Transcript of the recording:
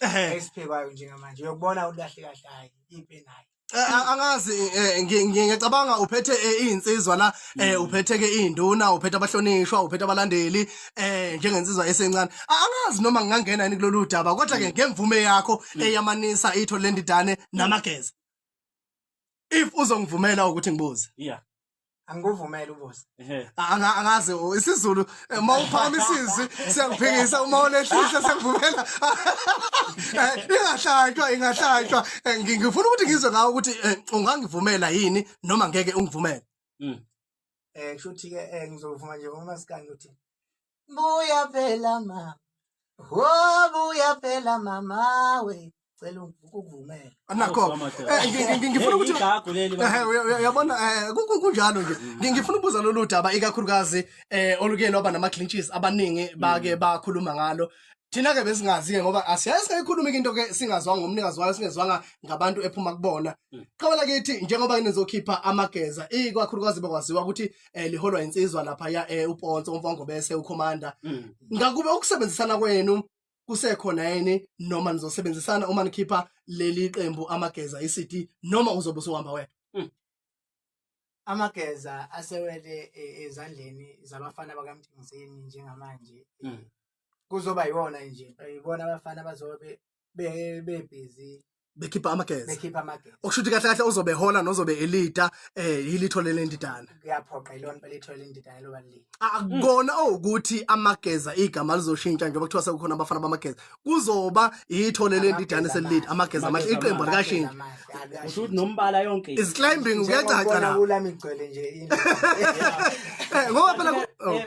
Ehhe. esiphekwayo njengamanje uyokubona ulahle kahle hayi ipi nayo Eh, a- angazi eh, ngi- ngi- ngiyacabanga uphethe eh, iyinsizwa la eh, uphethe ke induna uphethe abahlonishwa uphethe abalandeli eh njengensizwa esencane A- angazi noma ngingangena yini kulolu daba kodwa ke ngemvume yakho eyamanisa itho lendidane namageza if uzongivumela ukuthi ngibuze yeah angikuvumeli ubuze Anga- angazi u- isizulu eh, uma uphakama isizwi siyakuphikisa uma ulehlisa siyakuvumela Eh, ingahlatshwa ingahlatshwa Eh, ngi- ngifuna ukuthi ngizwe ngawo ukuthi eh, ungangivumela yini noma ngeke ungivumele Mm. eh kushuthi ke eh ngizovuma nje ngomasikandi ukuthi buya phela mama wo buya phela mama we cela ukuvumela anakho eh, ngifuna ukuthi eh, uyabona eh, kunjalo nje mm. ngifuna ukubuza lolu daba ikakhulukazi um oluke lwaba nama-clinches abaningi bake mm. bakhuluma ngalo thina-ke besingazi-ke ngoba asiyaye singayikhulumi ke into-ke singazwanga ngomnikazi wayo singezwanga ngabantu ephuma kubona mm. qhawela kithi njengoba nizokhipha amageza ikakhulukazi bakwaziwa ukuthi eh liholwa insizwa lapha ya eh uPonso umfongo bese uCommander mm. ngakube ukusebenzisana kwenu kusekhona yini noma nizosebenzisana uma nikhipha leli qembu amageza iCity noma uzobe usuhamba wena mm. amageza asewele eh, ezandleni zabafana bakamthingizeni njengamanje mm. kuzoba yiwona nje yibona abafana bazobe be be busy bekhipha amageza bekhipha amageza okusho ukuthi kahle kahle uzobe hola nozobe elida eh yilitho lelendidana kuyaphoqa ilona belitho lelendidana loba lili akukona ukuthi amageza igama lizoshintsha njengoba kuthiwa sekukhona abafana bamageza kuzoba yitho lelendidana selilida amageza amahle iqembu likashintsha usho ukuthi nombala yonke is climbing kuyacaca la kula migcwele nje into eh, ngoba phela eh,